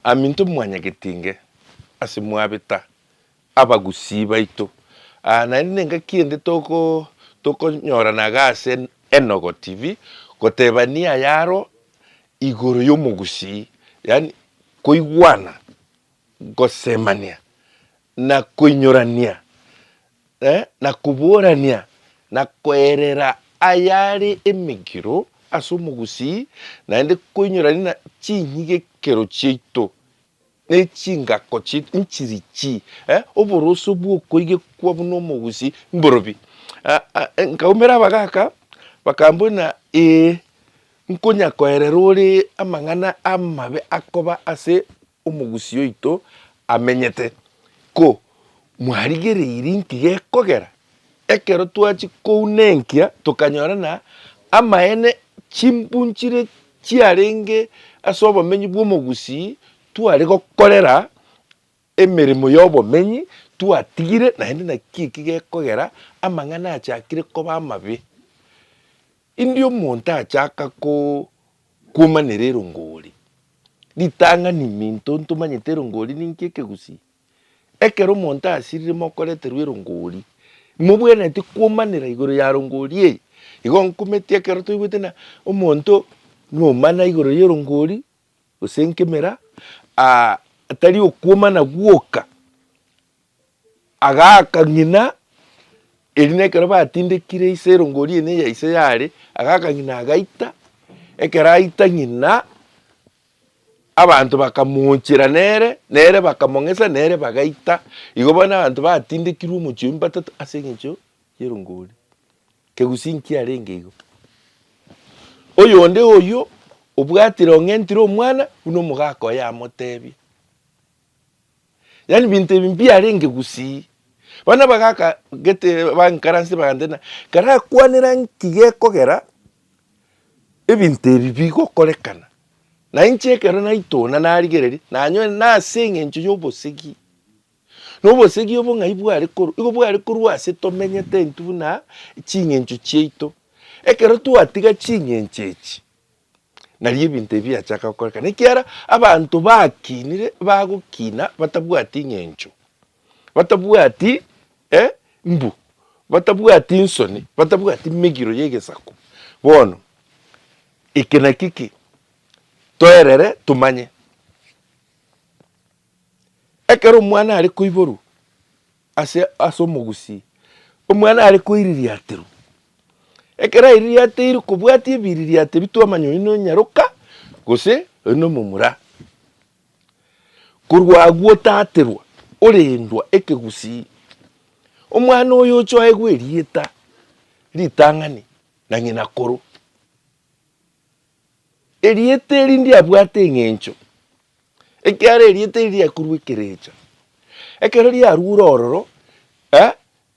Aminto mwanyagetinge ase mwabeta abagusii baito, aa naende nengaki ende toko tokonyorana iga ase Enogo TV, gotebania ayaroo igoro yomogusii, yaani koigwana, gosemania na koinyorania, na koborania, na koerera ayare emegiro ase omogusii, naende koinyorania na chinyigekero chiaito, na echingako chiaito nchirichi, oboroso bw'okoigekwa buna omogusii mborobi. Nkaumera abagaaka, bakambwa buna, Ee, nkonyakoerera ore amang'ana amabe akoba ase Omogusii oito amenyete. Ko mwarigereiri inki gekogera? Ekero twachia kouna enkia tokanyora na amaene chimbunchire chiarenge ase obomenyi bw'omogusii tware gokorera emeremo y'obomenyi twatigire, naende naki eki gekogera amang'ana achakire koba amabe. Indi omonto achaka ko. Komanera erongori. Ritang'ani iminto ntomanyete erongori ninki ekegusii. Ekero omonto asirire mokoreterwa erongori, mobwenereti komanera igoro ya rongori eye. Igo nkometi ekero toigwete ng'a omonto nomana igoro y'erongori gose nkemera tari okwomana gwoka. Agaaka ng'ina, erio nekero batindekire ise erongori eye neya ise yare, agaaka ng'ina agaita, ekero aita ng'ina, abanto bakamochera nere, nere bakamong'esa, nere bagaita, igo bono abanto batindekirwe omochie oyio batato ase eng'encho y'erongori. Kegusii nkiarenge igo. Oyonde oyio obwatire ong'entire omwana, buna omogaka oye amotebie. Yaani binto ebi mbiarenge gusii. Bono abagaka gete ba inkaransi bagantebia karakwanera nki gekogera ebinto ebi bigokorekana. Na inche ekero naitona narigereria nanyorire nase eng'encho y'obosegi. Na obosegi obo ng'ai bware korwa? Igo bware korwa ase tomenyete intwe buna ching'encho chiaito. Ekero twatiga ching'encho echi Nari ebinto ebi biachaka gokorekana ekiagera abanto bakinire bagokina batabwati ing'encho, batabwati mbu, batabwati insoni, batabwati migiro y'egesaku. Bono eke nakio ki toerere tomanye, ekero omwana are koiborwa. Ase as'omogusii, omwana are koiririaterwa. Ekero aiririateirwe kobwatia ebiririate bitwamanya oyio nonyaroka gose oyio nomomura. Korwa agwo otaterwa, orendwa ekegusii. Omwana oyo ochoegwa erieta, ritang'ani, na ng'ina koro. Erieta eri ndiabwate eng'encho, ekiagera erieta eri riakorua ekerecha. Ekero riarua ore ororo, eh,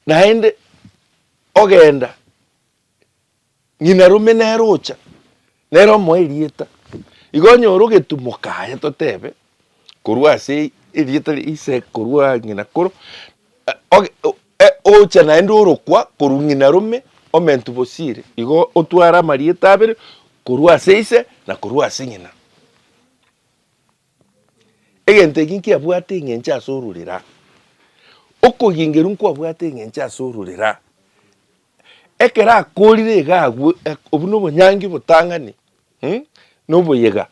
naende ogenda, ng'ina rome nere ocha, nere omoe erieta, igo onyore ogetumoka aye totebe. korwa ase erieta ria ise korwa ng'ina koro ocha naende orokwa korwa ng'ina rome omentu bosire igo otware amarieta abere korwa ase ise na korwa ase ng'ina. Egento eki nkiabwate eng'encho ase ororera, okogengerwa nkwabwate eng'encho ase ororera, ekero akorire iga agwo obwo na obonyangi botang'ani na oboyega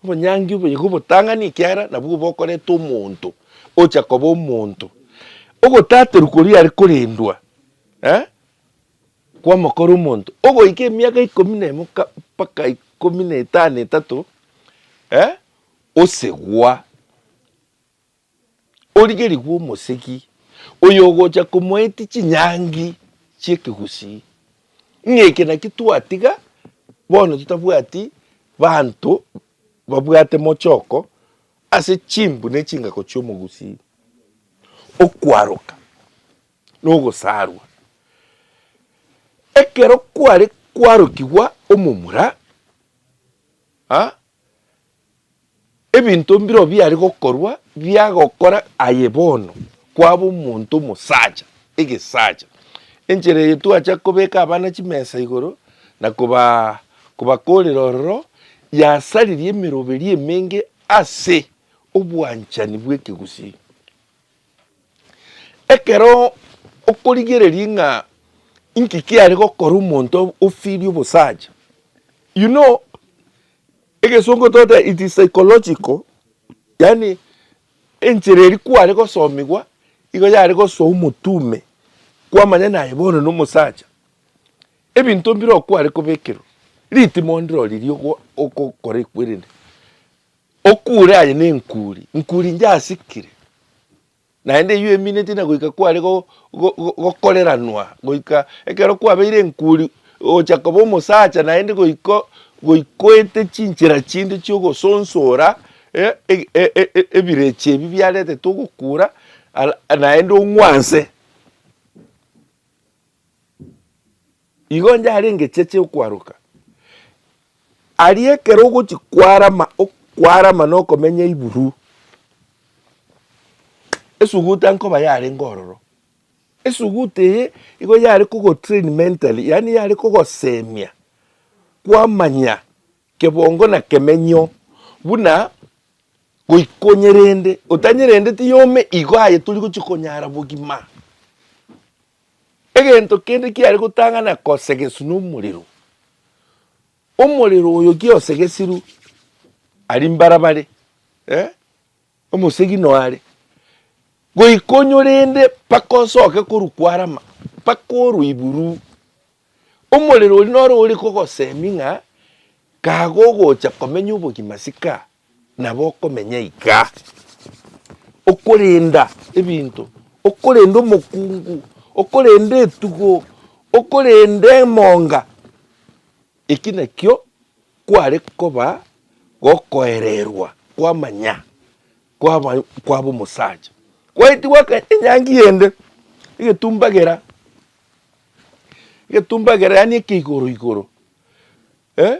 Obonyangi obo nigo obotang'ani ekiagera nabwo bokoreta omonto ocha koba omonto. Ogotaterwa koria are korendwa eh, kwamokora omonto ogoika emiaka ikomi na emo ka mpaka ikomi na etano etato eh, osegwa. origerigwe omosegi oyogocha komoetia chinyangi chiekegusii, ng'a eke naki twatiga bono totabwati banto babwate mochoko ase chimbu ne chingako chiomogusii. Okwaroka nogosarwa, ekero kware kwarokigwa omomura, Ebinto mbireo biare gokorwa biagokora aye bono kwaba omonto omosacha, egesacha. Enchera eye twacha kobeka abana chimesa igoro na koba kobakorera ororo yasaririe emeroberi emenge ase obwanchani bw'ekegusii. Ekero okorigereria ng'a inki kiare gokora omonto ofirie obosacha, you know egesongo togoteba it is psychological, yaani enchera eria kware gosomigwa nigo yare gosoa omotu ime kwamanya naye bono na omosacha, ebinto mbire okware kobekerwa, ritimo ndiro riria ogokora ekwerende. Okuure aye nenkuuri, nkuuri njasikire, naende eyio emineti na goika kware gokoreranwa, goika ekero kwabeire enkuuri ogocha koba omosacha naende goika goikoete chinchera chinde chi'ogosonsora ebirecha ebi biaretete ogokuura naende ong'wanse. Igo onde are engecheche okwaroka, aria ekero ogochi kwarama okwarama na okomenya iburu, esuguta nkoba yarenge ororo. Esuguta eye igo yare kogo train mentally, yaani yare kogosemia kwamanya kebongo na kemenyo buna goika onyerende, otanyerendeti yome igo aye tori gochia konyara bogima. Egento kende kiare gotang'ana kosegeswa nomorero, omorero oyo kiosegesirwe aria mbarabare, eh, omosegi noare goika onyorende mpaka osoke korwa kwarama mpaka orwe iguru. Omorero oria noro ore kogosemia ng'a kagogocha komenya obogima ase kaa. Nabo okomenya iga, okorenda ebinto, okorenda omokungu, okorenda etugo, okorenda emonga. Eki nakio kware koba gokoererwa kwamanya kwaba kwaba omosacha. Kwaetigwa aka enyangi ende egetumba gera, egetumba gera yaani eke igoro igoro eh.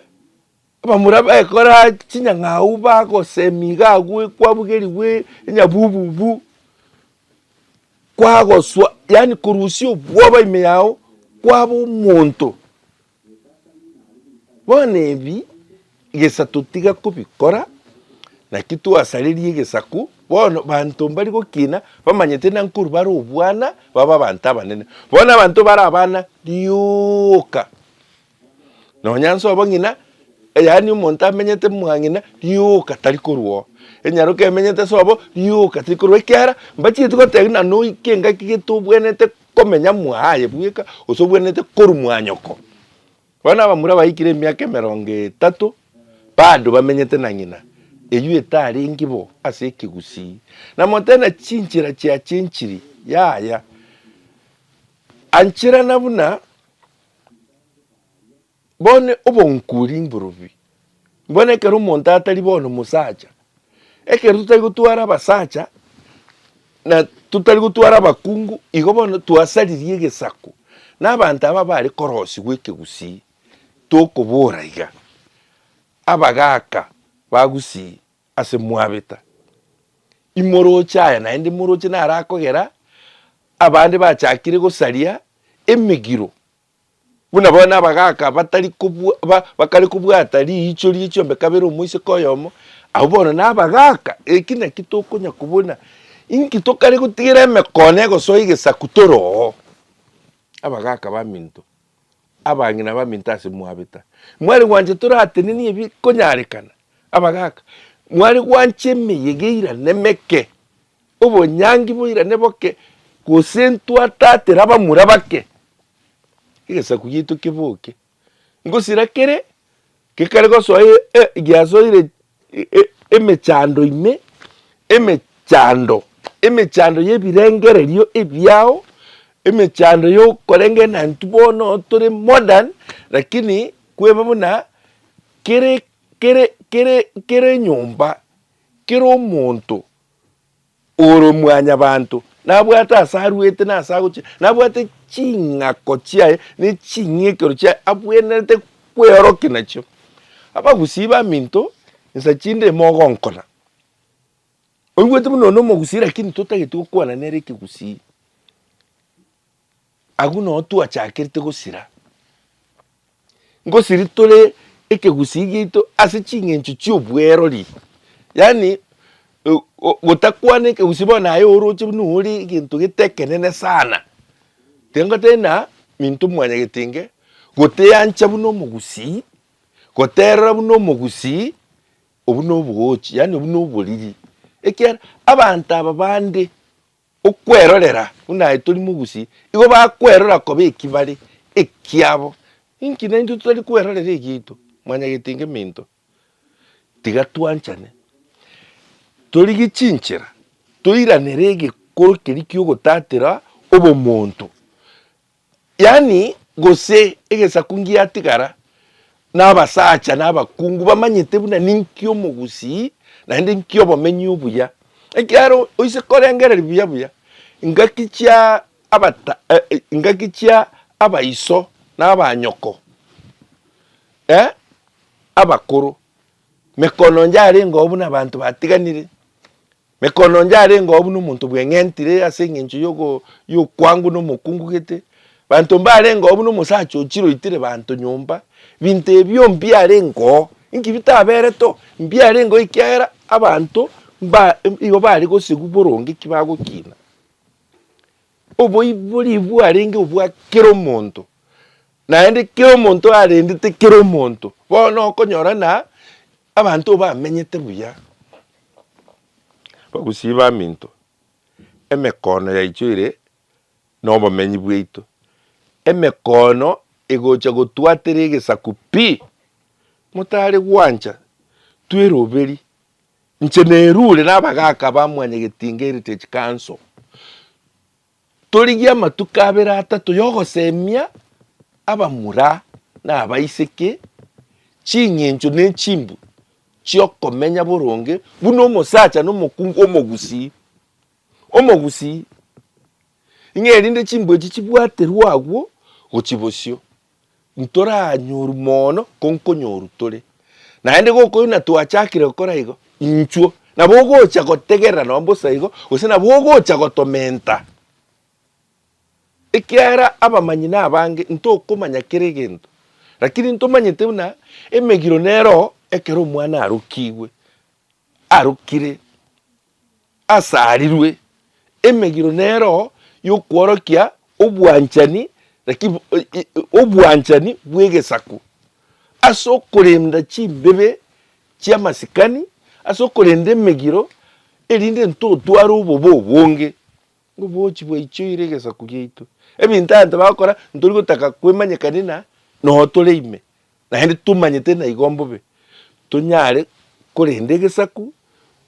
Abamura bekora chinyang'au bagosemi iga agwo kwabugerigwe enyabububu kwagoswa yaani korusia obwoba ime yao kwaba omonto. Bono ebi gesato tiga kobikora naki twasareria egesaku bono banto mbari gokina bamanyete na nkorwa bare obwana babe abanto abanene. Bono abanto bare abana rioka. Nonya nsobo ng'ina, yaani omonto amenyete mwang'ina, rioka tari korwa oo. Enyaroka emenyete sobo, rioka teri korwa oo. Ekiagera mbachieti gotebia ng'a noike engaki gete obwenerete komenya mwaaye bweka, gose obwenerete korwa mwanyoko. Bono abamura baikire emiaka emerongo etato, bado bamenyete na ng'ina, eywo etarenge bo ase ekegusii. Namotebia ng'a chinchera chiacha enchiri, yaya. Ancherana buna. Bono obonkuri mborubi, mbwene ekero omonto atari bono omosacha, ekero totari gotwara abasacha na totari gotwara abakungu, igo bono twasaririe egesaku na abanto aba bare korosigwa ekegusii, tokobora iga, abagaka ba gusii. ase mwabeta, imoroche aya naende moroche narakogera abande bachakire gosaria emegiro, buna bono abagaka batari kobwa bakare kobwata riicho rie chiombe kabere omoiseke oyomo, abwo bono nabagaka. Eki naki tokonya kobuna, inki tokare gotigera emekoo na egosoa egesaku tore oo, abagaka baminto. abang'ina abaminto ase mwabeta, mware gwancha toratenenie ebikonyarekana, abagaaka, mware gwancha emeyega eirane meke, obonyangi boirane boke, gose ntwatatera abamura bake, egesaku giaito keboke. Ngosira kere gekare gosoa e- e- giasoire emechando ime, emechando, emechando y'ebirengererio ebiao, emechando y'okorenga enantwe bono tore modern, lakini kweba buna kere kere kere kere enyomba, kere omonto Ore mwanyabanto, nabwate ase arwete na ase agochia, nabwate ching'ako chiaye ne ching'ikero chiaye abwenerete kweorokia nachio. Abagusii baminto, insa chinde ime ogonkona. Oigwete buna one omogusii lakini totageti gokwana nere ekegusii. Agwo noo twachakerete gosira. Ngosiri tore ekegusii giaito ase ching'encho chi'obwerori. Yaani gotakwana ekegusii bono naye oroche buna ore egento gete ekenene sana. Tiga ngotebie buna Minto Mwanyagetenge, goteancha buna omogusii, goterora buna omogusii, obwo nobogoochi yaani obwo noboriri. Ekiagera abanto aba bande Okwerorera buna aye tori mogusi, igo bakwerora koba ekibare ekiabo. Inki naintwe totari kwerorera egiaito? Mwanyagete inga eminto? Tiga twanchane. Torigie chinchera toiranere egekoro keria ki'ogotatera obomonto. Yaani, gose egesaku ngiatigara, na abasacha na abakungu bamanyete buna ninki omogusii, naende nki obomenyi obuya. Ekiagera oise korengereria buya buya, ingaki chia abata, eh, ingaki chia abaiso na abanyoko, eh, abakoro, mekononja arengeo buna abanto batiganire. Mekondo onde arenge oo buna omonto bweng'entire ase engencho y'okwangu na omokungu gete, banto mbarenge oo buna omosacha ochiroitire banto nyomba, binto ebio mbiarenge oo. Inki bitaberete oo? Mbiarenge oo ekiagera abanto mba igo bare gosigwa boronge ki bagokina. Oboibori bwarenge obwa kera omonto, naende kera omonto arendete kera omonto. Bono okonyora na Abanto bamenyete buya bagusiba aminto, emekono yaito ere nobomenyi bwaito, emekono egocha gotwatera egesaku pi, motare gwancha tweroberi, inche nerure nabagaka ba mwanyagetinga Heritage Council. Torigie amatuko abere atato y'ogosemia abamura na abaiseke ching'encho ne chimbu chi'okomenya boronge buna omosacha na omokungu omogusii. Omogusii, ing'e erinde chimbu echi chibwaterwe agwo gochia bosio, Ntoranyoru mono konkonyoru tore, naende gokoyuna twachakire gokora igo, inchuo nabo ogocha gotegerera nonya bosa igo, gose nabo ogocha gotomenta, ekiagera abamanyi nabange, ntokomanya kera egento, rakini ntomanyete buna emegiro nero ekero omwana arokigwe, arokire asarirwe emegiro neroho y'okworokia obwanchani, lakini obwanchani bw'egesaku, ase okorenda chimbibe chi'amasikani, ase okorenda emegiro, erinde ntotware obobe obonge ngobochi bwaichoire egesaku giaito. Ebinto abanto bagokora ntori gotaka kwemanyekania na noo tore ime, Naende tomanyete naigo mbobe tonyare korenda egesaku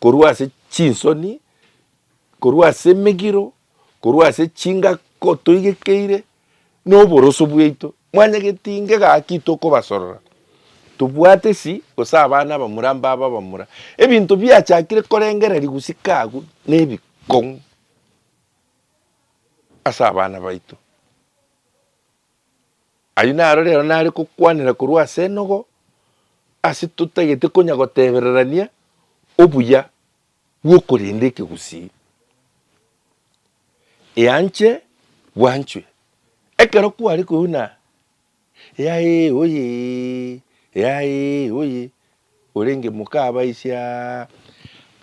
korwa ase chinsoni, korwa ase emegiro, korwa ase chingako toigekeire, na oboroso bwaito. Mwanyageti inge gaki tokobasorora, tobwate si, gose abana abamura mbabe abamura. Ebinto biachakire korengereria gusika agwo nebikong'u ase abana baito. Ayio naro rero nare gokwanera korwa ase enogo ase totagete konya gotebererania obuya bw'okorenda ekegusii. Eanche bwanchwe. Ekero kware koigwa buna eaee oyee, eaee oyee, Orenge moka abaisia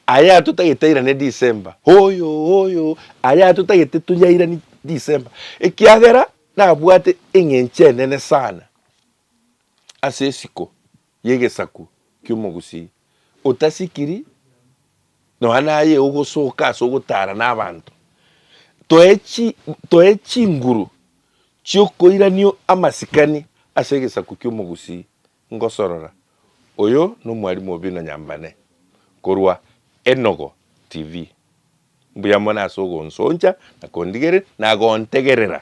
Aya atotagete airane December Hoyo hoyo Aya atotagete turi airani December Ekiagera nabwate eng'encho enene sana Ase esiko y'egesaku ki'omogusii Otasikiri nonya naye ogosoka ase ogotara nabanto Toe chinguru chi'okoiranio amasikani Ase egesaku ki'omogusii Ngosorora, oyo nomwalimu o bino nyambane korwa Enogo TV. Mbuya mono ase ogonsoncha na kondigereria na gontegerera.